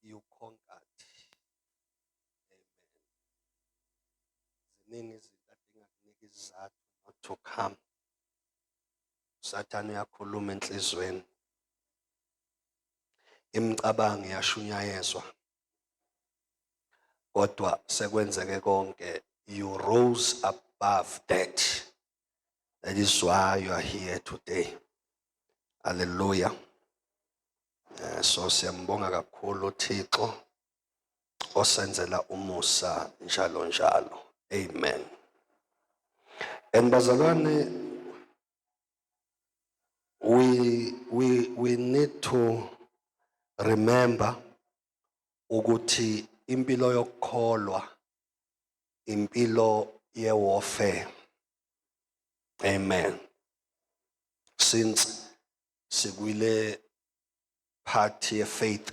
you conquered. Amen. Ziningi izinto adingakunika izizathu not to come. Sathane uyakhuluma enhlizweni. Imicabango iyashunyayezwa. Kodwa sekwenzeke konke you rose above that. That is why you are here today. Hallelujah. Eh, so siyambonga kakhulu uThixo osenzela umusa njalo njalo. Amen. And bazalwane we we we need to remember ukuthi impilo yokukholwa impilo yewarfare amen since sikwile part ye faith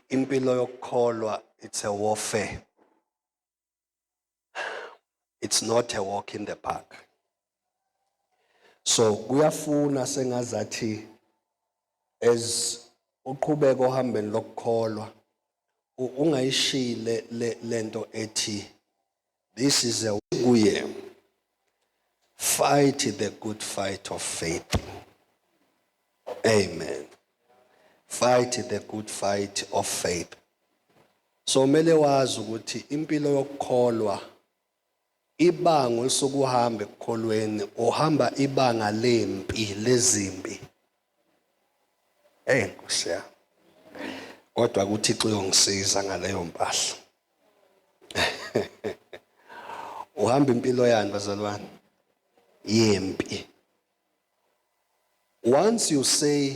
impilo yokukholwa it's a warfare it's not a walk in the park so kuyafuna sengazathi as uqhubeka ohambeni lokukholwa ungayishile lento ethi this is a kuye fight the good fight of faith amen fight the good fight of faith so mele wazi ukuthi impilo yokukholwa Ibango esokuhamba ekukholweni uhamba ibanga lempi lezimpi. Hey Nkosi yami. Kodwa kuThixo uyongisiza ngaleyo mpahla. Uhamba impilo yani bazalwane? Yempi. Once you say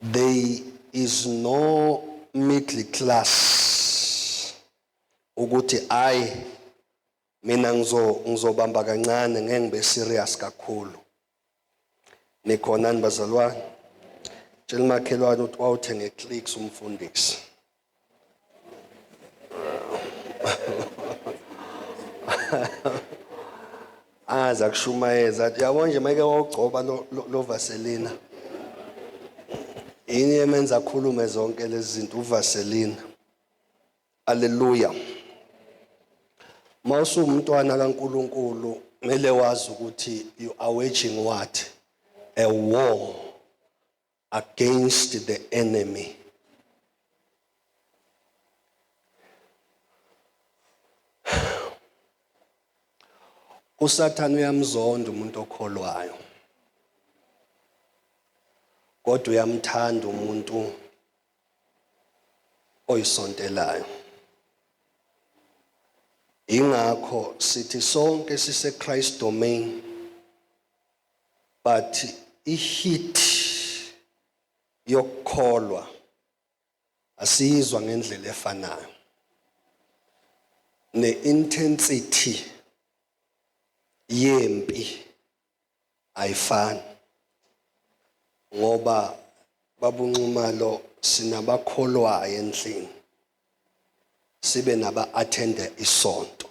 There is no middle class ukuthi ay mina ngizo ngizobamba kancane ngeke ngibe serious kakhulu. Nikhonani bazalwane? Tshela umakhelwane ukuthi wawuthe ngeclicks umfundisi. aza kushumayeza yabo nje mayike wawugcoba lo vaselina yini emenza akhulume zonke lezi zinto uvaselina aleluya uma usuwumntwana kankulunkulu kumele wazi ukuthi you are waging what a war against the enemy. USathane uyamzonda umuntu okholwayo. Kodwa uyamthanda umuntu oyisontelayo. Ingakho sithi sonke sise Christ domain But i heat yokukholwa asiyizwa ngendlela efanayo. Ne intensity yempi ayifani. Ngoba babunxumalo sinabakholwayo endlini. Sibe naba attend isonto.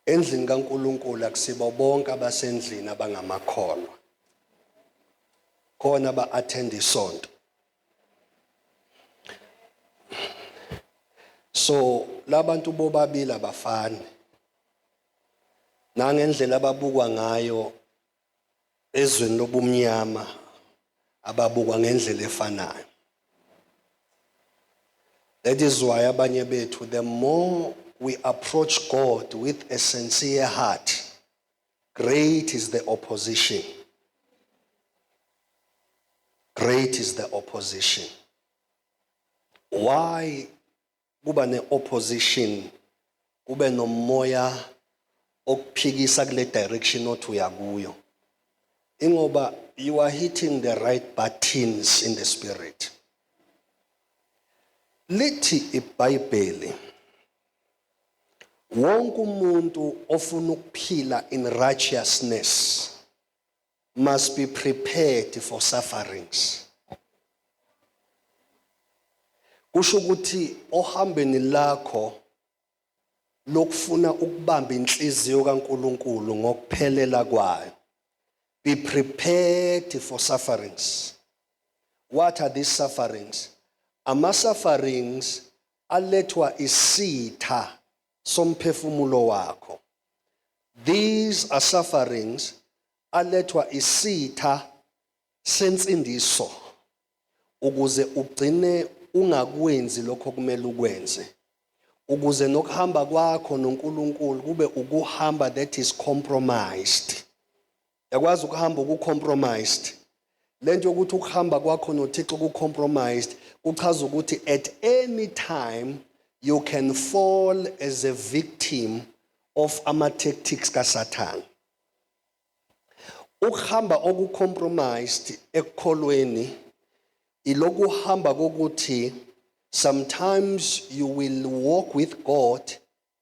Endlini kaNkulunkulu akusibo bonke abasendlini abangamakholwa. Khona ba-attend isonto. So labantu bobabili abafani. Nangendlela ababukwa ngayo ezweni lobumnyama ababukwa ngendlela efanayo. That is why abanye bethu the more we approach God with a sincere heart, great is the opposition. Great is the opposition. Why kuba ne-opposition kube nomoya okuphikisa kule direction othi uyakuyo ingoba you are hitting the right buttons in the spirit lithi ibhayibheli wonke umuntu ofuna ukuphila in righteousness must be prepared for sufferings. Kusho ukuthi ohambeni lakho lokufuna ukubamba inhliziyo kaNkuluNkulu ngokuphelela kwayo. Be prepared for sufferings. What are these sufferings? Ama sufferings alethwa isitha somphefumulo wakho. These are sufferings alethwa isitha sensindiso ukuze ugcine ungakwenzi lokho kumele ukwenze ukuze nokuhamba kwakho noNkulunkulu kube ukuhamba that is compromised Yakwazi ukuhamba uku compromised. Lento yokuthi ukuhamba kwakho noThixo ku compromised kuchaza ukuthi at any time you can fall as a victim of ama tactics kaSathane. Ukuhamba oku compromised ekukholweni ilokuhamba kokuthi sometimes you will walk with God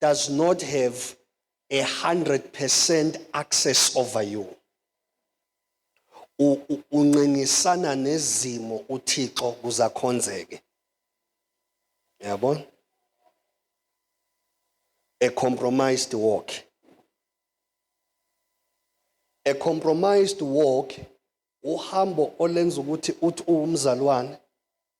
does not have a 100% access over you unqingisana nezimo uThixo kuzakhonzeke yabona a compromised walk a compromised walk uhambo olenza ukuthi uthi uwumzalwane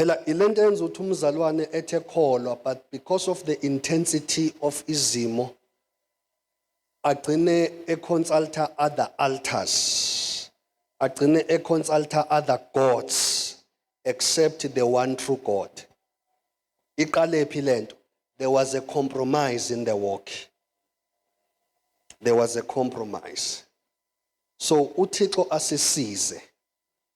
Phela ilento yenza ukuthi umzalwane ethe kholwa but because of the intensity of izimo agcine econsulta other altars agcine econsulta other gods except the one true God iqalephi lento there was a compromise in the walk there was a compromise so uThixo asisize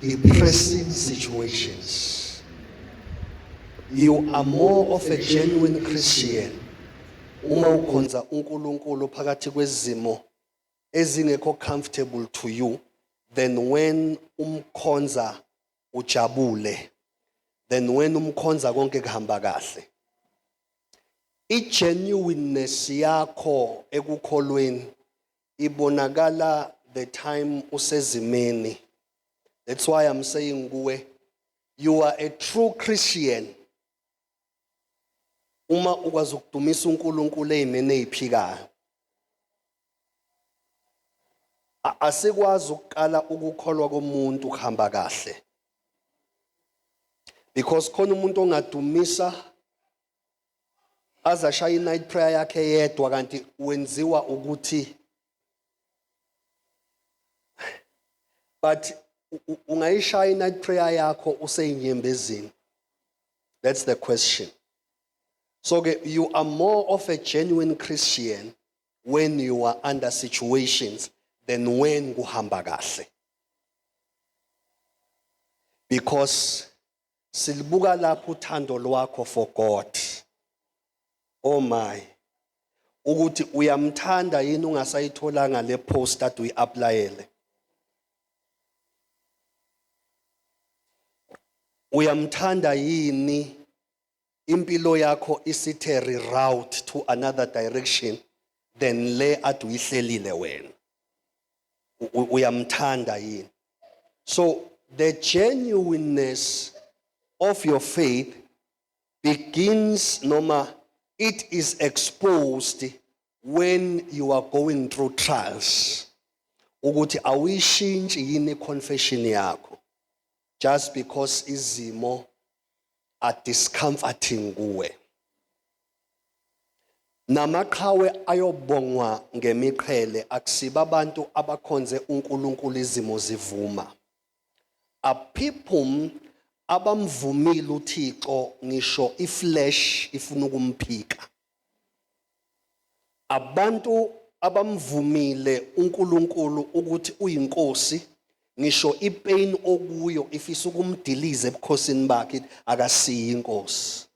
depressing situations. You are more of a genuine Christian uma ukhonza uNkulunkulu phakathi kwezimo ezingekho comfortable to you than when umkhonza ujabule than when umkhonza konke kuhamba kahle i genuineness yakho ekukholweni ibonakala the time usezimeni that's why i'm saying kuwe you are a true christian uma ukwazi ukudumisa uNkulunkulu ezimeni eziphikayo asikwazi ukuqala ukukholwa komuntu kuhamba kahle because khona umuntu ongadumisa aze ashaye i-night prayer yakhe yedwa kanti wenziwa ukuthi but ungayishaya i-night prayer yakho useyinyembezini that's the question so ke you are more of a genuine christian when you are under situations than when kuhamba kahle because silibuka lapho uthando lwakho for God oh my ukuthi uyamthanda yini ungasayitholanga le post ade uyi-aplayele uyamthanda yini impilo yakho isithe reroute to another direction than le ade uyihlelile wena uyamthanda yini so the genuineness of your faith begins noma it is exposed when you are going through trials ukuthi awuyishintshi yini confession yakho just because izimo are discomforting kuwe namaqhawe ayobongwa ngemiqhele akusiba abantu abakhonze uNkulunkulu izimo zivuma aphiphum abamvumile uThixo ngisho iflesh ifuna ukumphika Abantu abamvumile uNkulunkulu ukuthi uyinkosi ngisho ipain okuyo ifisa ukumdiliza ebukhosini bakhe akasiyi inkosi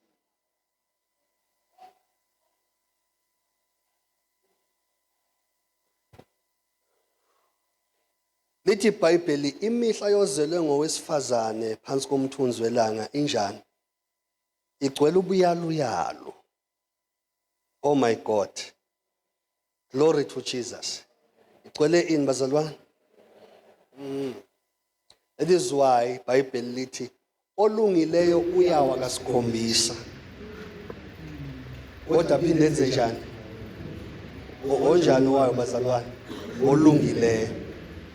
Lithi iBhayibheli imihla yozelwe ngowesifazane phansi komthunzi welanga injani? igcwele ubuyaluyalu oh my god glory to jesus igcwele ini bazalwane mm. that is why ibhayibheli lithi olungileyo uyawa kasikhombisa kodwa phinde enze njani onjani wayo bazalwane olungileyo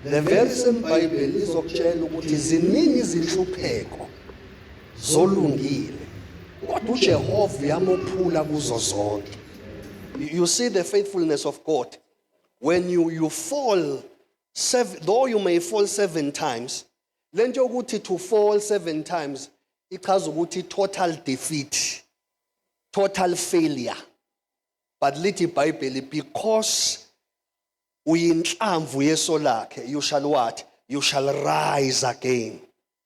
le verse emBhayibheli izokutshela ukuthi ziningi izinhlupheko zolungile kodwa uJehova uyamophula kuzo zonke you see the faithfulness of God when you you fall seven, though you may fall seven times lento yokuthi to fall seven times ichaza ukuthi total defeat total failure but lithi ibhayibheli because uyinhlamvu yeso lakhe you shall what you shall rise again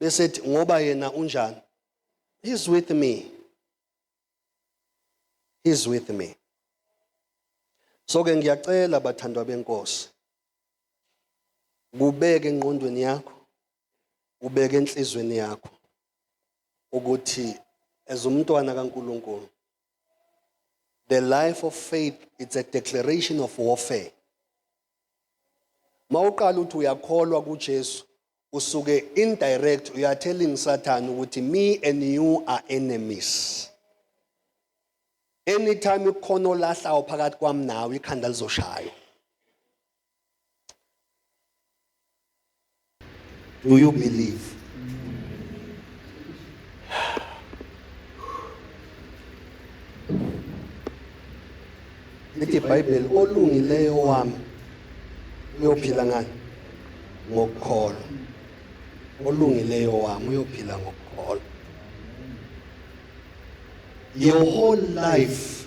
bese ethi ngoba yena unjani he's with me he's with me so ke ngiyacela bathandwa benkosi kubeke enqondweni yakho ubeke enhlizweni yakho ukuthi as umntwana kaNkuluNkulu the life of faith it's a declaration of warfare mawuqala uthi uyakholwa kuJesu usuke indirect you are telling Satan ukuthi me and you are enemies anytime ikhona olahlawo phakathi kwami nawe ikhanda lizoshaywa Do you believe? Lithi iBhayibheli olungileyo wami uyophila ngani? Ngokukholwa. Olungileyo wami uyophila ngokukholwa. Your whole life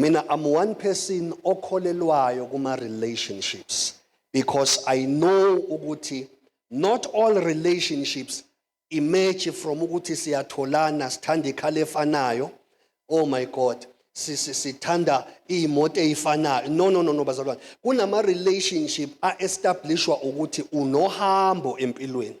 Mina I'm one person okholelwayo kuma relationships because I know ukuthi not all relationships emerge from ukuthi siyatholana sithanda ikhala efanayo oh my god sithanda iy'moto ey'fanayo no no no no bazalwane kunama-relationship a-establishwa ukuthi unohambo empilweni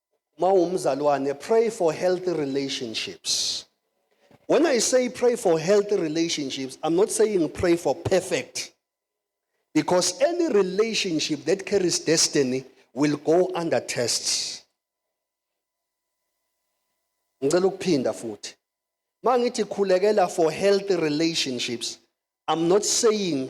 mawumzalwane pray for healthy relationships when i say pray for healthy relationships i'm not saying pray for perfect because any relationship that carries destiny will go under tests ngicela ukuphinda futhi mangithi khulekela for healthy relationships i'm not saying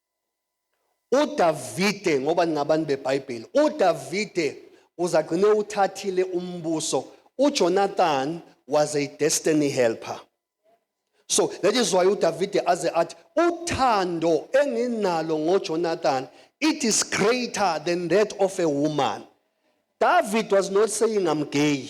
UDavide, ngoba ningabani beBhayibheli, uDavide uzagcine uthathile umbuso. UJonathan was a destiny helper. So that is why uDavide aze athi uthando enginalo ngoJonathan it is greater than that of a woman. David was not saying I'm gay.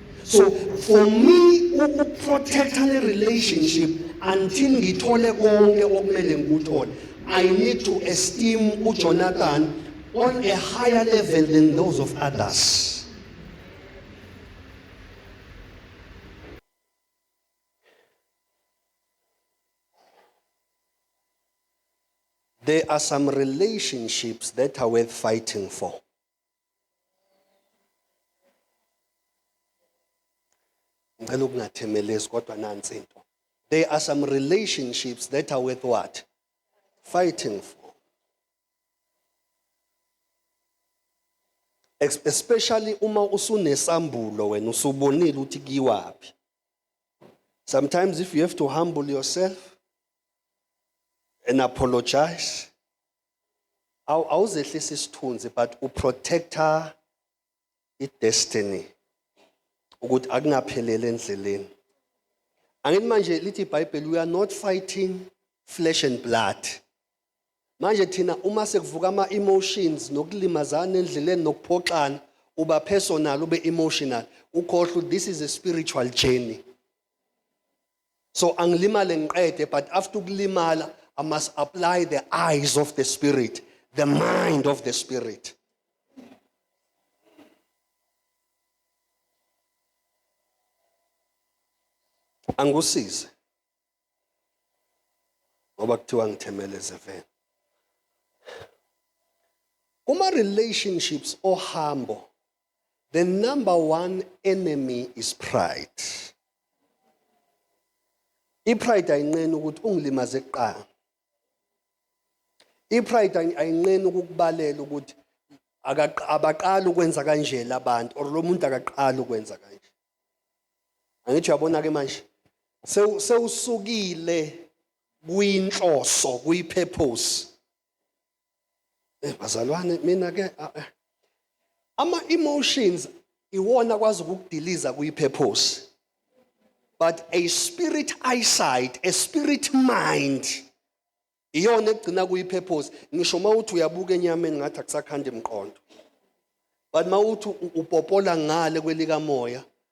so for me ukuprotecta le relationship until ngithole konke okumele ngikuthole i need to esteem ujonathan on a higher level than those of others There are some relationships that are worth fighting for. ngicela ukungathemelezi kodwa nansi into there are some relationships that are worth what fighting for especially uma usunesambulo wena usubonile ukuthi kiwaphi sometimes if you have to humble yourself and apologize awu awuzehlisa isithunzi but uprotector idestiny ukuthi akungaphelele endleleni angithi manje lithi ibhayibheli we are not fighting flesh and blood manje thina uma sekuvuka ama emotions nokulimazana endleleni nokuphoxana uba personal ube emotional ukhohlwa this is a spiritual journey so angilimale ngiqede but after ukulimala i must apply the eyes of the spirit the mind of the spirit angikusize ngoba kuthiwa ngithemele zeveni kuma relationships ohambo The number one enemy is pride. I-pride ayinqeni ukuthi ungilimaze kuqala. I-pride ayinqeni ukukubalela ukuthi abaqali ukwenza kanje labantu or lo muntu akaqali ukwenza kanje. Angithi uyabona ke manje sewusukile kwinhloso kwi-purpose Eh bazalwane mina ke ah, eh. ama emotions iwona kwazi ukudiliza kuyi purpose. But a spirit eyesight, a spirit mind iyona egcina kuyi purpose. Ngisho mawuthi uyabuka enyameni ngathi akusakhandi emqondo. But mawuthi upopola ngale kwelika moya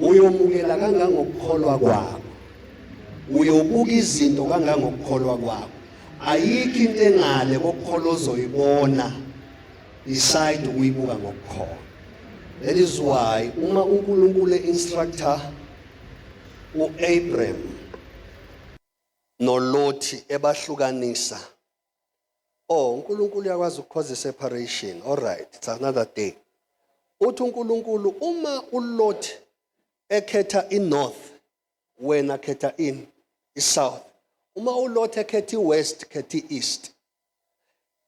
uyomukela kangangokukholwa kwakho uyobuka izinto kangangokukholwa kwakho ayikho into engale kokukhola ozoyibona decide ukuyibuka ngokukhola that is why uma uNkulunkulu instructor uAbraham noLothi ebahlukanisa Oh uNkulunkulu uyakwazi ukukhoza separation. All right, it's another day. Uthi uNkulunkulu uma uLot ekhetha iNorth wena khetha in iSouth. Uma uLot ekhetha iWest khetha iEast.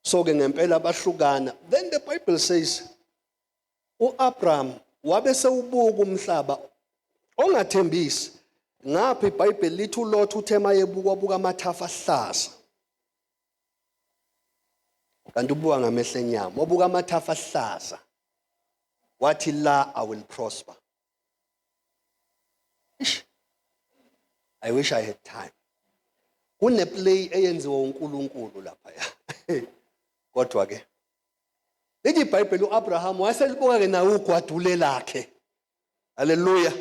So ke ngempela bahlukana. Then the Bible says uAbraham wabe sewubuka umhlaba ongathembisi ngapha iBhayibheli lithi uLot uthe mayebuka wabuka amathafa ahlaza kanti ubuka ngamehlo enyama wabuka amathafa ahlaza wathi la i will prosper Ish. i wish i had time kuneplay eyenziwa uNkulunkulu lapha ya kodwa ke Lithi iBhayibheli uAbraham wayeselibuka ke nawe ugwadule lakhe. Haleluya.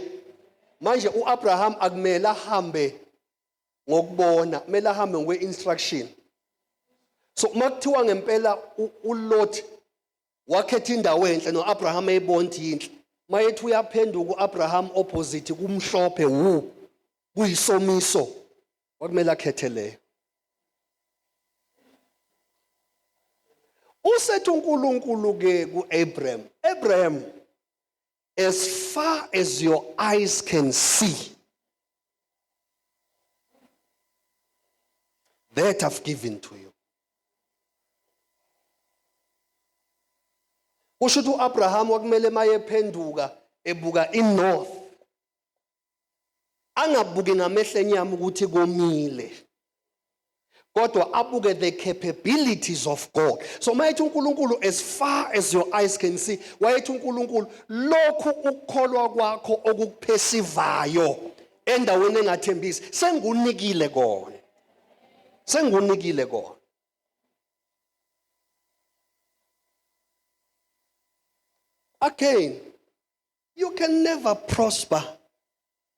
Manje uAbraham akumele ahambe ngokubona, kumele ahambe ngokwe instruction. So uma kuthiwa ngempela uLot wakhetha indawo enhle noAbraham eyibonti yinhle. Mayethi uyaphenduka uAbraham opposite kumhlophe wu kuyisomiso. kwakumele akhethe leyo usethi uNkulunkulu ke kuAbraham Abraham as far as your eyes can see that I've given to you kusho ukuthi uAbraham wakumele mayephenduka ebuka inorth angabuki ngamehlo enyama ukuthi komile kodwa abuke the capabilities of God so mayethi uNkulunkulu as far as your eyes can see wayethi uNkulunkulu lokhu ukukholwa kwakho okukuphesivayo endaweni engathembisi sengunikile kona sengunikile kona again You can never prosper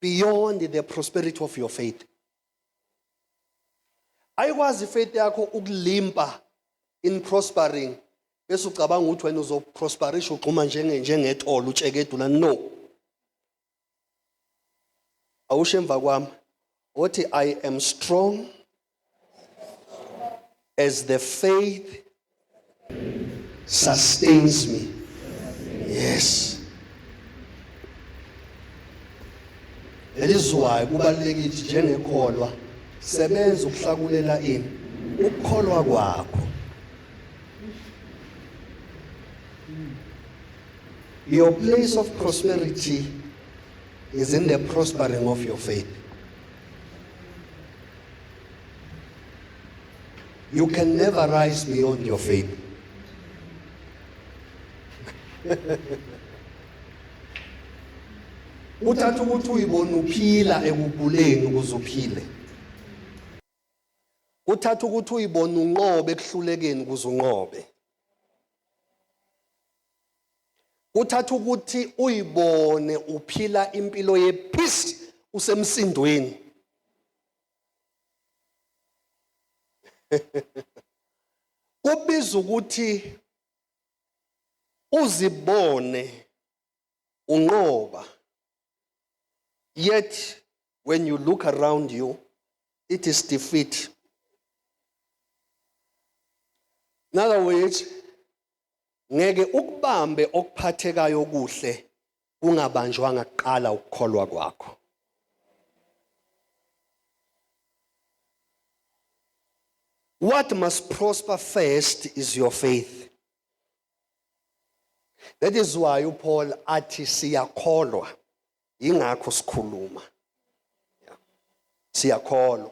beyond the prosperity of your faith. Ayikwazi ifaith yakho ukulimpa in prospering bese ucabanga ukuthi wena uzoprosperisha ugxuma njenge njengetholo utshekedula no. Awushe emva kwami othi I am strong As the faith sustains me. Yes. Elizwayo kubalekile njengekholwa sebenza ukuhlakulela ini ukukholwa kwakho. Your place of prosperity is in the prospering of your faith. You can never rise beyond your faith. uthatha ukuthi uyibona uphila ekuguleni ukuze uphile uthatha ukuthi uyibona unqobe ekuhlulekeni ukuze unqobe kuthatha ukuthi uyibone uphila impilo ye peace usemsindweni kubiza ukuthi uzibone unqoba yet when you look around you it is defeat in other words ngeke ukubambe okuphathekayo okuhle kungabanjwanga kuqala ukukholwa kwakho What must prosper first is your faith. That is why uPaul athi siyakholwa ingakho sikhuluma. Siyakholwa.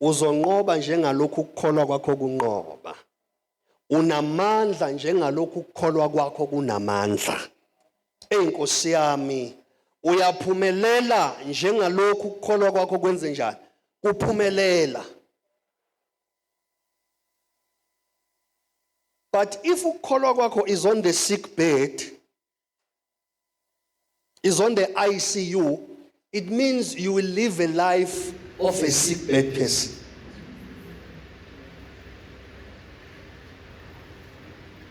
Uzonqoba njengalokhu ukukholwa kwakho kunqoba. Unamandla njengalokhu ukukholwa kwakho kunamandla. Eyi Nkosi yami, uyaphumelela njengalokhu ukukholwa kwakho kwenze njani? Kuphumelela. But if ukukholwa kwakho is on the sick bed, is on the ICU, it means you will live a life of a sick bed person.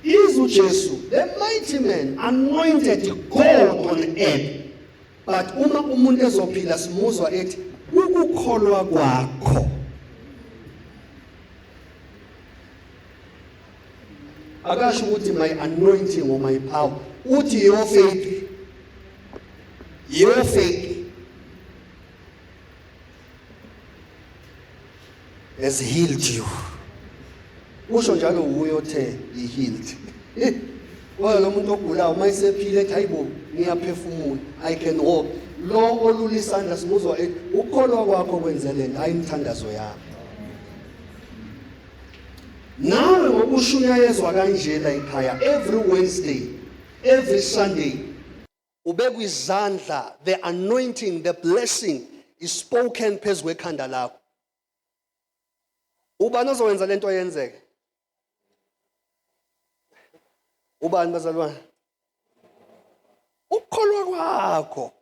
Is uJesu, the mighty man, anointed God on earth. But uma umuntu ezophila simuzwa ethi ukukholwa kwakho akasho ukuthi my anointing or my power uthi your faith your faith has healed you usho njalo wuye othe he healed kodwa lo muntu ogulayo uma esephile ethi hayibo ngiyaphefumula i can walk lo olula isandla simuzwa ethi ukukholwa kwakho kwenze le nto hayi imithandazo yami Nawe ngokusho uyayezwa kanje la ekhaya every Wednesday, every Sunday. Ubekwa izandla, the anointing, the blessing is spoken phezu kwekhanda lakho. Ubani ozowenza lento yenzeke? Ubani bazalwane? Ukukholwa kwakho.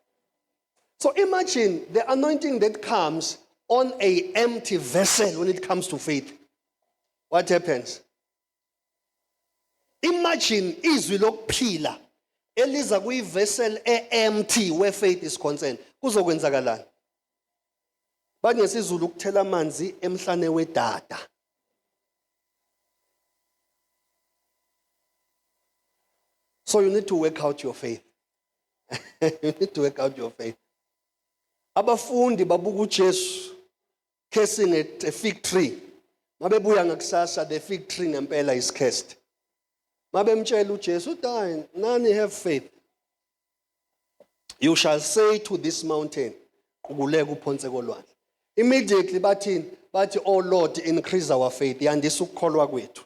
So imagine the anointing that comes on a empty vessel when it comes to faith. What happens? Imagine izwi lokuphila eliza kuyivessel e-empty where faith is concerned. Kuzokwenzakalani? Bathi ngesizulu ukuthela amanzi emhlane wedada. So you need to work out your faith. you need to work out your faith abafundi babuka uJesu cursing at a fig tree mabebuya ngakusasa the fig tree ngempela is cursed mabemtshela uJesu die nani have faith you shall say to this mountain qukuleka uphonse kolwandle immediately bathini bathi oh lord increase our faith yandisa ukukholwa kwethu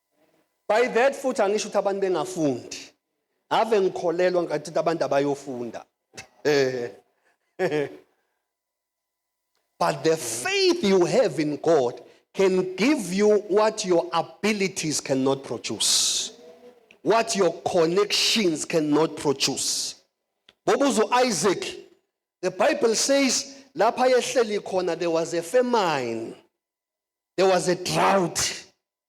by that futhi angisho ukuthi abantu bengafundi ave ngikholelwa ngathi ukuthi abantu abayofunda but the faith you have in God can give you what your abilities cannot produce what your connections cannot produce bobuzo Isaac the bible says lapha yehleli khona there was a famine there was a drought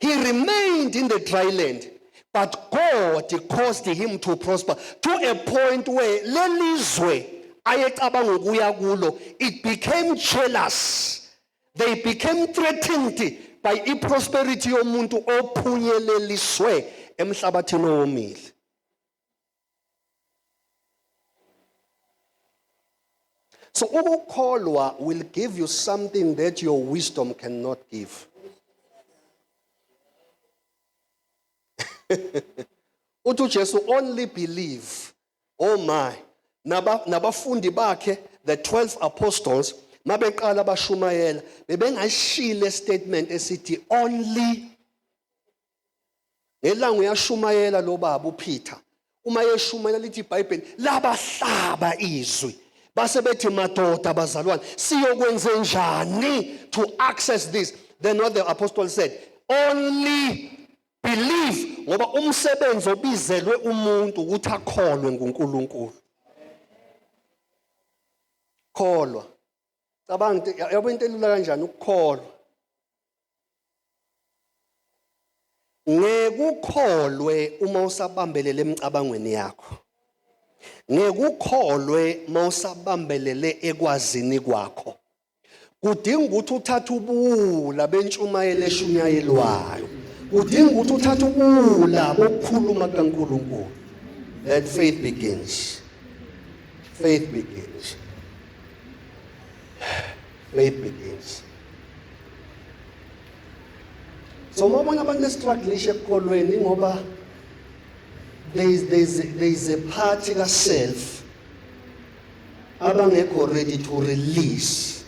He remained in the dry land, but God caused him to prosper to a point where lelizwe ayecabanga ukuya kulo it became jealous. They became threatened by iprosperity yomuntu ophunyeleliswe emhlabathini owomile. so ukukholwa will give you something that your wisdom cannot give uthi ujesu only believe oh my nabafundi bakhe the 12 apostles mabeqala bashumayela bebengashile statement esithi only ngelanga uyashumayela lo baba uPeter uma yeshumayela lithi iBhayibheli labahlaba izwi base bethi madoda bazalwane siyokwenze njani to access this then what the apostle said only believe ngoba umsebenzi obizelwe umuntu ukuthi akholwe nguNkulunkulu kholwa cabanga yabo into elula kanjani ukukholwa ngekukholwe uma usabambelele emicabangweni yakho ngekukholwe uma usabambelele ekwazini kwakho kudinga ukuthi uthathe ubuwula bentshumayelo eshunyayelwayo kudinga ukuthi uthathe ubuwula bokukhuluma kukaNkulunkulu that faith begins faith begins Play begins. So uma ubona abantu bestruglisha ekukholweni ngoba there is, there, is, there is a part kaself abangekho ready to release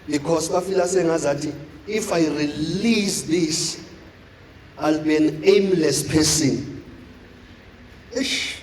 because bafila sengazathi if i release this i'll be an aimless person ish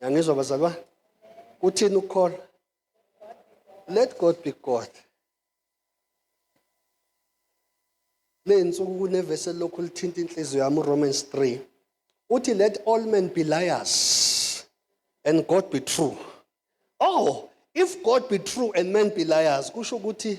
yangizwa bazalwane kuthini ukukholwa let god be god le nsuku kunevesi elokhu lithinta inhliziyo yami uromans 3 uthi let all men be liars and god be true oh if god be true and men be liars kusho ukuthi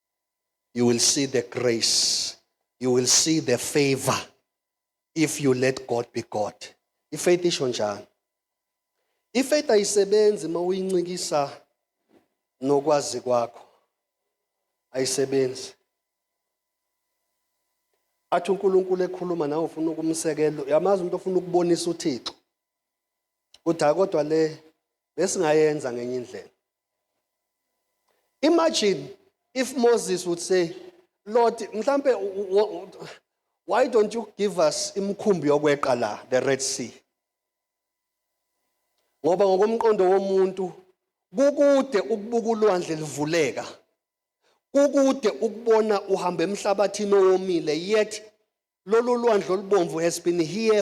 you will see the grace you will see the favor if you let God be God ifaith isho njani ifaith ayisebenzi uma uyincikisa nokwazi kwakho ayisebenzi athi uNkulunkulu ekhuluma nawe ufuna ukumsekela yamazi umuntu ofuna ukubonisa uThixo uthi kodwa le besingayenza ngenye indlela Imagine if Moses would say, Lord, mhlampe why don't you give us imkhumbi yokweqa la the Red Sea? Ngoba ngokomqondo womuntu kukude ukubuka ulwandle livuleka. Kukude ukubona uhamba emhlabathini owomile yet lolu lwandle olubomvu has been here